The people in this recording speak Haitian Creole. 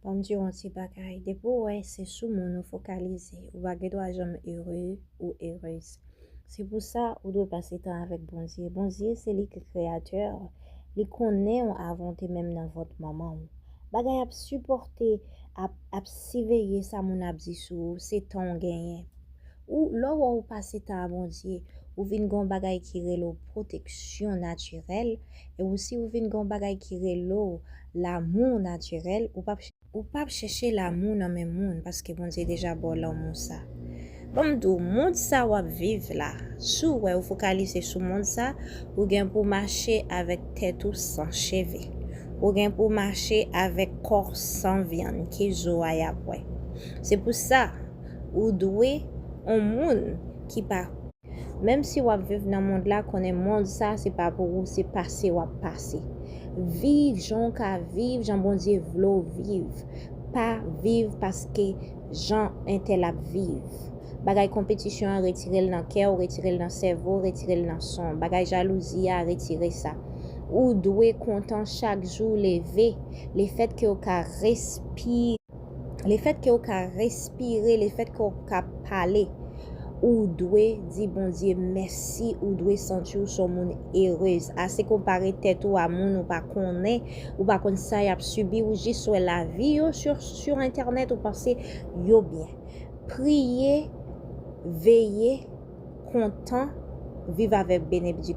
Banm diw yon ti bagay depi ou wè se sou moun ou fokalize ou pa gen dwa janm ere ou erez se pou sa ou dwe pase tan avèk Bondye Bondye se li ki kreyatè li konnenw avan w te menm nan vant manman w bagay ap sipòte ap ap siveye sa moun ap di sou ou se tan w genyen Ou lè w wè w pase tan a Bondye, ou vin gen yon bagay ki rele w pwoteksyon natirèl, e ou si ou vin gen yon bagay ki rele w lanmou natirèl, ou pap, ou pap chèche lanmou nan men moun paske Bondye deja ba w lanmou sa. Ban m di w, mond sa w ap viv la, si w wè ou fokalize sou mond sa, ou gen pou w mache avèk tèt ou san cheve. Ou gen pou w mache avèk kò w san vyann, ke zo a y ap wè. Se pou sa, ou dwe on moun ki pa menm si wap viv nan mond la konnen mond sa se pa pou ou se pase wap pase viv jan ou ka viv jan Bondye vle ou viv pa viv paske jan entèl ap viv bagay konpetisyon an retirel nan kèw retirel nan sèvow retirel nan sanw bagay jalouzi a retire sa ou dwe kontan chak jou ou leve lefèt kew ka respire. Lefèt ke ou ka respire, lefèt ke ou ka pale, ou dwe di Bondye mèsi, ou dwe santi ou son moun erez. Ase konpare tèt ou a moun ou pa konnen, ou pa konn sa yap sibi, ou jis wè lavi yo sur entènèt ou panse yo byen. Priye, veye, kontan, viv avèk benebdiksyon.